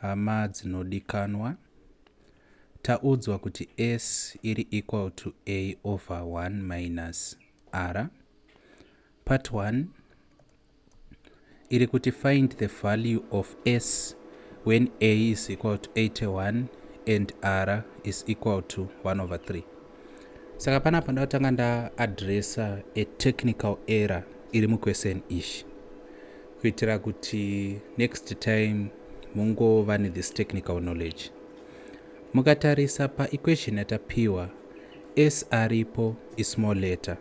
Hama dzinodikanwa, taudzwa kuti S iri equal to A over 1 minus R. Part 1 iri kuti find the value of S when A is equal to 81 and R is equal to 1 over 3. Saka panapa ndakutanga ndaadressa a technical error iri muquestion ishi. kuitira kuti next time mungova nethis technical knowledge mukatarisa paequation yatapiwa s aripo ismall letter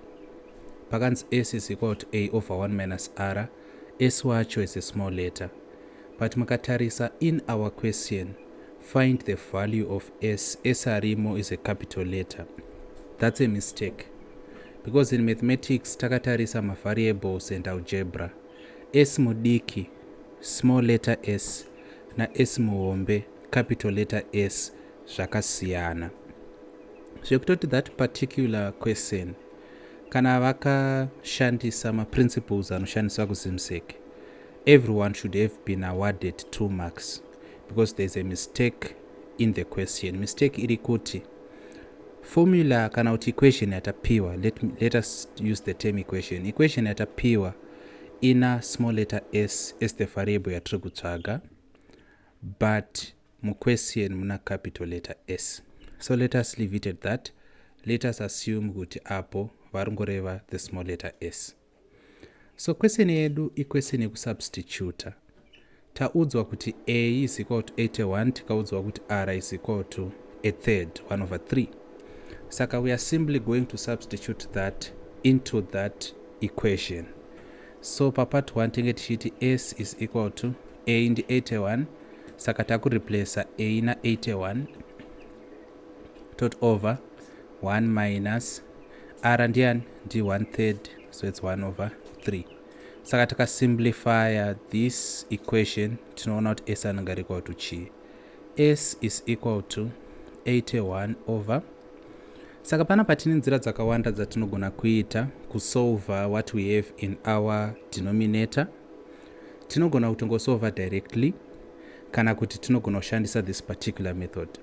pakanzi s is equal to a over 1 minus r s wacho is a small letter but mukatarisa in our question find the value of s s arimo is a capital letter that's a mistake because in mathematics takatarisa mavariables and algebra S mudiki, small letter s, na S muhombe, capital letter S, zvakasiyana. Zvekutoti that particular question, kana vakashandisa maprinciples anoshandiswa kuZimsec, everyone should have been awarded two marks because there's a mistake in the question. Mistake iri kuti formula kana kuti equation yatapiwa let, me, let us use the term equation equation yatapiwa ina small letter s as the variable yatiri kutsvaga but muquestion muna capital letter s so let us leave it at that let us assume kuti apo vari ngoreva the small letter s So question yedu iquestion yekusubstituta. Taudzwa kuti A is equal to 81 tikaudzwa kuti R is equal to a third, 1 over 3. Saka we are simply going to substitute that into that equation. So pa part 1 tinge tichiti S is equal to A ndi 81 saka takureplacer A na 81 tot over 1 minus r ndian ndi 1 third so its 1 over 3 saka tikasimplifya this equation tinoona kuti s anenge ari equal to chii s is equal to 81 over saka pana patine nzira dzakawanda dzatinogona kuita kusolva what we have in our denominator tinogona kutongosolva directly kana kuti tinogona kushandisa this particular method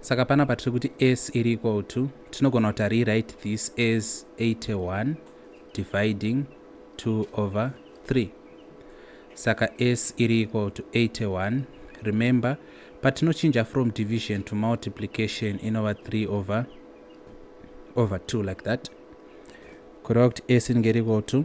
Saka panapa tiri kuti s iri equal to tinogona kuti rewrite this as 81 dividing 2 over 3 saka s iri equal to 81 remember patinochinja from division to multiplication inova 3 over over 2 like that kureva kuti s inenge iri equal to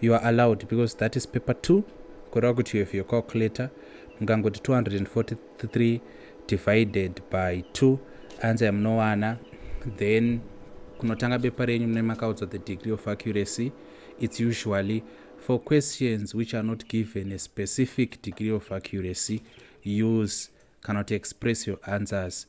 you are allowed because that is paper 2 kureva kuti you have your calculator mukangoti 243 divided by 2 ansa yamunowana then kunotanga bepa renyu mune makaudzwa the degree of accuracy it's usually for questions which are not given a specific degree of accuracy use kana kuti express your answers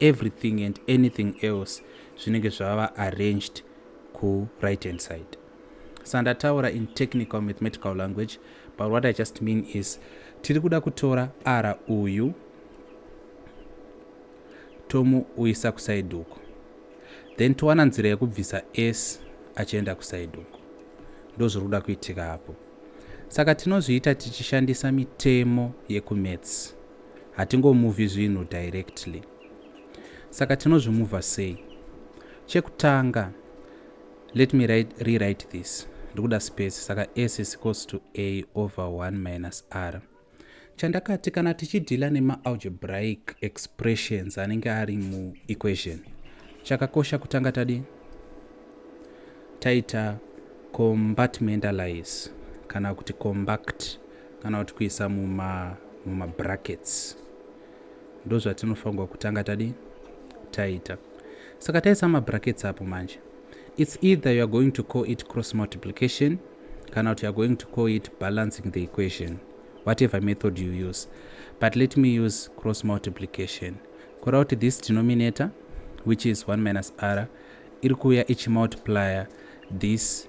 everything and anything else zvinenge zvava arranged ku right hand side sandataura in technical mathematical language but what i just mean is tiri kuda kutora r uyu tomuuyisa kusaidi uko then towana nzira yekubvisa s achienda kusaidi uko ndozviri kuda kuitika apo saka tinozviita tichishandisa mitemo yekumats Hatingomuvi zvinhu directly. Saka tinozvimuva sei? Chekutanga, let me write, rewrite this. Ndikuda space, saka s is equals to a over 1 minus r. Chandakati kana tichidhila nemaalgebraic expressions anenge ari muequation, chakakosha kutanga tadi taita compartmentalize kana kuti compact kana kuti kuisa muma mumabrackets ndozvatinofanirwa kutanga tadi taita saka taisa mabrackets apo manje it's either youare going to call it cross multiplication kana kuti youare going to call it balancing the equation whatever method you use but let me use cross multiplication kura kuti this denominator which is 1 minus r iri kuuya ichimultiplier this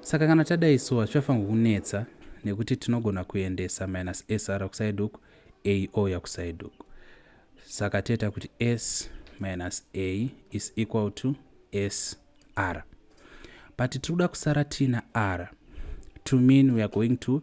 saka kana tadai so hazvichafanirwa kunetsa nekuti tinogona kuendesa minus sr kusaidi uku a ouya kusaidi uku saka toita kuti s minus a is equal to s r but tiri kuda kusara tiina r to mean weare going to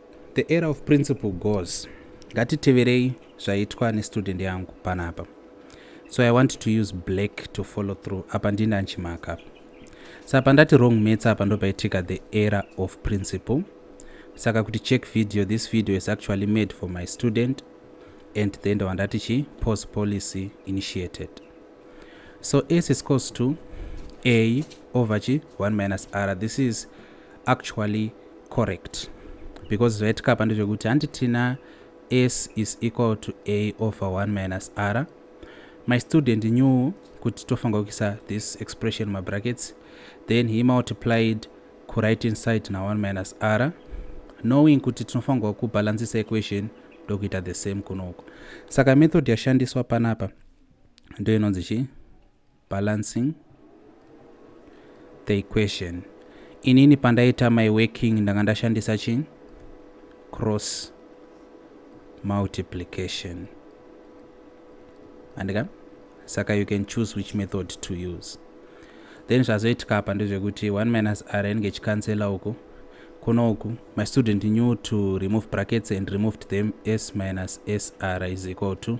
The era of principle goes. Ngatiteverei zvaitwa nestudent yangu panapa. So I want to use black to follow through. Apa ndini anchimaka apa. Sa pandati wrong mates apa ndopaitika the era of principle. Saka kuti check video, this video is actually made for my student and then the one that she post policy initiated so s is cos to a over g 1 minus r this is actually correct because zvaitika apa ndezvekuti handi tina s is equal to a over 1 minus r my student knew kuti tofanira kuisa this expression mabrackets then he multiplied kuright inside na 1 minus r knowing kuti tinofanirwa kubalancisa equation ndokuita the same kunoko saka method yashandiswa panapa ndoinonzi chii balancing the equation inini pandaita my working ndanga ndashandisa chi cross multiplication andika saka you can choose which method to use then zvazoitika apa ndezvekuti 1 minus r inenge ichicancela uku kuno uku my student knew to remove brackets and removed them s minus sr is equal to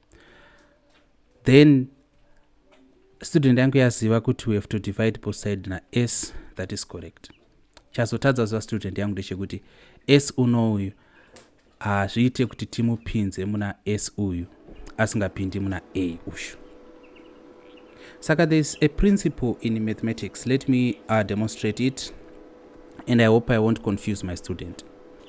then student yangu yaziva kuti we have to divide both side nas that is correct chazotadza ziva student yangu ndechekuti s uno uyu hazviite kuti timupinze muna s uyu asingapindi muna a ushu saka there is a principle in mathematics let me uh, demonstrate it and i hope i won't confuse my student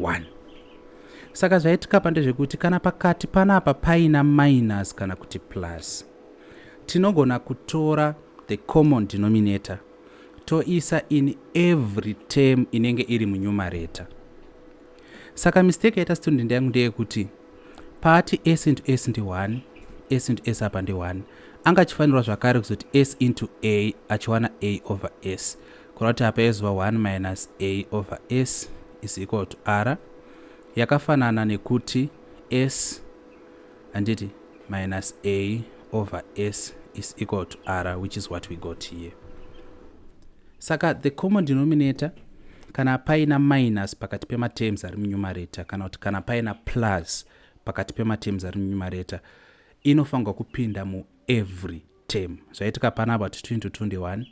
1 saka zvaitikapa ndezvekuti kana pakati panapa paina minus kana kuti plus tinogona kutora the common denominator toisa in every term inenge iri munyumareta saka mistake yaita student yangu ndeyekuti paati s into s ndi 1 s into s apa ndi 1 anga achifanirwa zvakare kuzoti s into a achiwana a over s Kureva kuti apa yaizova 1 minus a over s is equal to r yakafanana nekuti s handiti minus a over s is equal to r which is what we got here saka the common denominator kana paina minus pakati pematerms ari munumerator kana kuti kana paina plus pakati pematerms ari munumerator inofanirwa kupinda muevery term zvaitika panapa kuti 2 into 2 ndi 1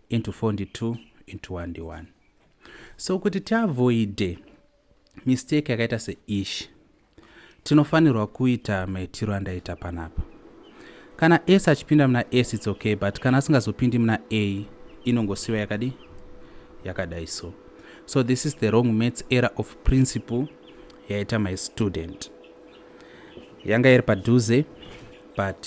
into 4 ndi 2 into 1 ndi 1 so kuti tiavoide mistake yakaita seish tinofanirwa kuita maitiro andaita panapa kana s achipinda muna s its okay but kana asingazopindi muna a inongosiwa yakadi yakadai so so this is the wrong maths error of principle yaita my student yanga iri padhuze but